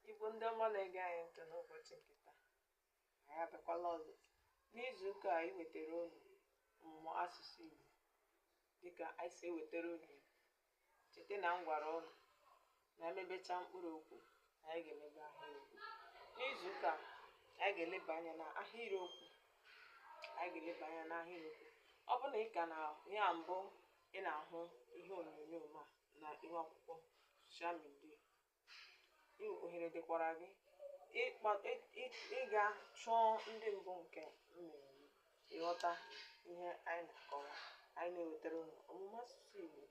Igbo ndị ọma na-ege anyị ntị n'ụbọchị nke taa anyị abịakwala ọzọ n'izu ụka a iwetara unu ọmụmụ asụsụ Igbo dịka anyị si ewetara unu Igbo cheta na m gwara unu na emebecha mkpụrụ okwu na anyị ga-emebe ahịrịokwu n'izu ụka a anyị ga-eleba anya na ahịrịokwu anyị ga-eleba anya na ahịrịokwu ọ bụrụ na ị ka na ya mbụ ị na-ahụ ihe onyonyo m a na ihu akwụkwọ soshal midia ohere dịkwara gị ịga chọọ ndị mbụ nke mmemme ịghọta ihe anyị na-akọwa anyị na-ewetara unu ọmụmụ asụsụ Igbo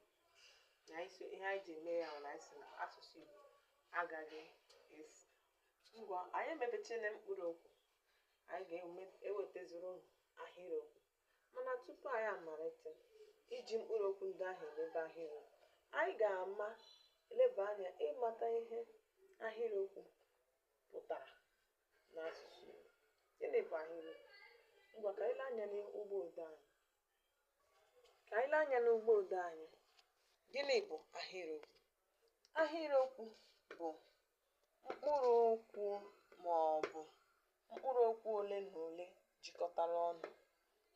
na ihe anyị ji eme ya na anyị sị na asụsụ Igbo agaghị efu ngwa anyị emebechana mkpụrụ okwu anyị ga-ewetaziri unu ahịrịokwu Mana tupu anyị amalite iji mkpụrụ okwu ndị ahụ emebe ahịrịokwu, anyị ga-ama leba anya ịmata ihe ahịrịokwu pụtara n'asụsụ Igbo. Gịnị bụ ahịrịokwu? Ngwa ka anyị lee anya n'ụgbọ odee anyị. Ka anyị lee anya n'ụgbọ odee anyị. Gịnị bụ ahịrịokwu? Ahịrịokwu bụ mkpụrụ okwu ma ọ bụ mkpụrụ okwu ole na ole jikọtara ọnụ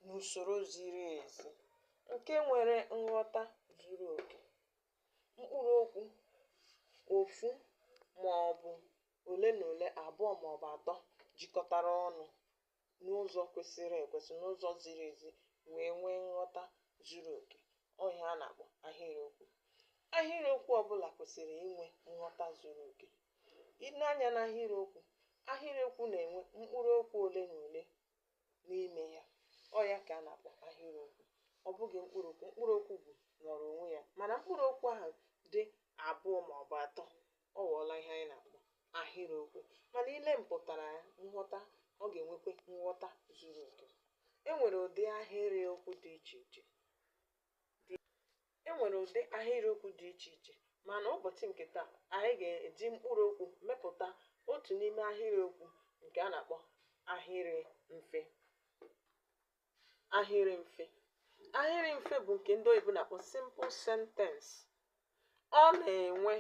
n'usoro ziri ezi nke nwere nghọta zuru oke. Mkpụrụ okwu ofu ma ọ bụ ole na ole, abụọ ma ọ bụ atọ jikọtara ọnụ n'ụzọ kwesịrị ekwesị n'ụzọ ziri ezi wee nwee nghọta zuru oke ọ ihe a na-akpọ ahịrịokwu ahịrịokwu ọbụla kwesịrị inwe nghọta zuru oke i lee anya na ahịrịokwu ahịrịokwu na-enwe mkpụrụ okwu ole na ole n'ime ya ọ ya ka a na-akpọ ahịrịokwu ọ bụghị mkpụrụ okwu mkpụrụ okwu bụ nọrọ onwe ya mana mkpụrụ okwu ahụ dị abụọ ma ọ bụ atọ Ọ ghọọla ihe anyị na-akpọ ahịrịokwu. Mana i lee mpụtara ya, nghọta, ọ ga-enwekwa nghọta zuru oke. E nwere ụdị ahịrịokwu dị iche iche mana ụbọchị nke taa, anyị ga-eji mkpụrụ okwu mepụta otu n'ime ahịrịokwu nke a na-akpọ ahịrị mfe. ahịrị mfe ahịrị mfe bụ nke ndị oyibo na-akpọ simple sentence ọ na-enwe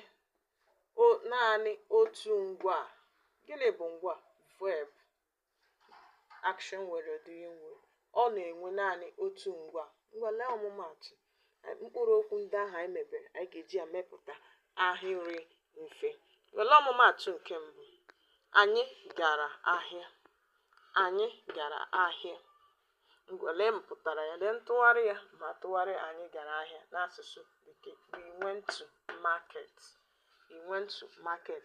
o- naanị otu ngwaa gịnị bụ ngwaa verb action word doing word ọ na-enwe naanị otu ngwaa ngwa lee ọmụmaatụ mkpụrụ okwu ndị ahụ anyị mebere anyị ga-eji ya mepụta ahịrị mfe were ọmụmaatụ nke mbụ anyị gara ahịa anyị gara ahịa ngwa lee mpụtara ya lee ntụgharị ya ma a tụgharịa anyị gara ahịa n'asụsụ bekee we went to market we went to market